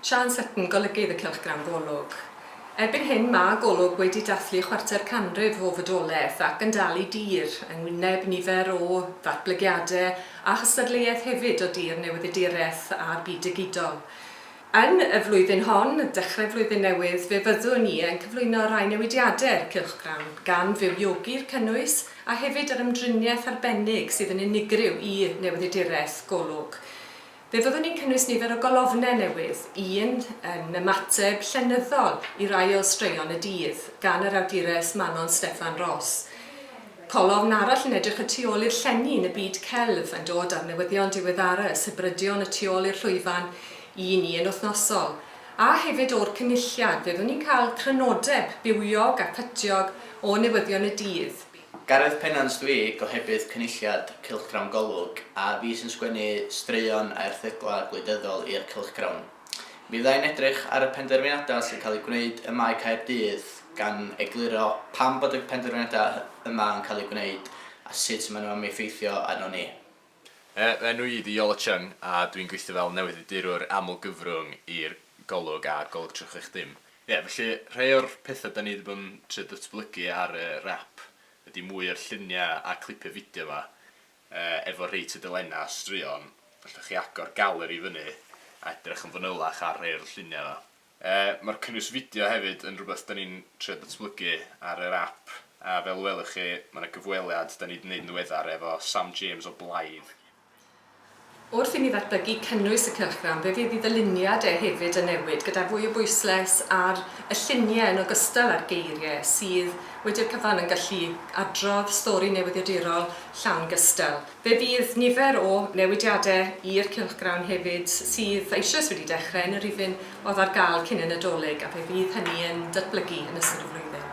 Siân Sutton, Golygydd y Cylchgrawn Golwg. Erbyn hyn, mae Golwg wedi dathlu chwarter canrif o fodolaeth ac yn dal i dir, yng ngwyneb nifer o ddatblygiadau a chystadleuaeth hefyd o dir newyddiaduraeth a'r byd digidol. Yn y flwyddyn hon, Dechrau Flwyddyn Newydd, fe fyddwn i yn cyflwyno rai newidiadau i'r cylchgrawn, gan fywiogi'r cynnwys a hefyd yr ymdriniaeth arbennig sydd yn unigryw i Newyddiaduraeth Golwg. Fe fyddwn ni'n cynnwys nifer o golofnau newydd, un yn ymateb llenyddol i rai o straeon y dydd gan yr awdures Manon Steffan Ros. Colofn arall yn edrych y tu ôl i'r llenni yn y byd celf yn dod â'r newyddion diweddara y sibrydion y tu ôl i'r llwyfan i ni yn wythnosol, a hefyd o'r Cynulliad, fyddwn ni'n cael crynodeb bywiog a phytiog o newyddion y dydd. Gareth Pennant dw i, gohebydd Cynulliad Cylchgrawn Golwg, a fi sy'n sgwennu straeon a erthyglau gwleidyddol i'r cylchgrawn. Meddai'n edrych ar y penderfyniadau sy'n cael eu gwneud ym Mae Caerdydd, gan egluro pam bod y penderfyniadau yma yn cael eu gwneud a sut maen nhw am effeithio arnon ni. Fy enw i ydi Iolo Cheung a dwi'n gweithio fel newyddiadurwr aml-gyfrwng i'r Golwg a Golwg 360. Ie, felly rhai o'r pethau dan ni 'di bod yn trio datblygu ar yr app ydi mwy o'r lluniau a clipiau fideo 'ma. Efo rhei tudalennau a straeon, allwch chi agor galeri i fyny a edrych yn fanylach ar rhei o'r lluniau yna. Mae'r cynnwys fideo hefyd yn rhywbeth da ni'n trio datblygu ar yr ap, a fel y welwch chi, mae yna gyfweliad da ni 'di 'neud yn ddiweddar efo Sam James o Blaidd. Wrth i ni ddatblygu cynnwys y cylchgrawn, fe fydd i ddyluniad e hefyd yn newid, gyda fwy o bwysles ar y lluniau yn ogystal â'r geiriau, sydd, wedi'r cyfan, yn gallu adrodd stori newyddiadurol llawn gystal. Fe fydd nifer o newidiadau i'r cylchgrawn hefyd, sydd eisoes wedi dechrau, yn y rhifyn oedd ar gael cyn y Nadolig, a fe fydd hynny yn datblygu yn ystod y flwyddyn.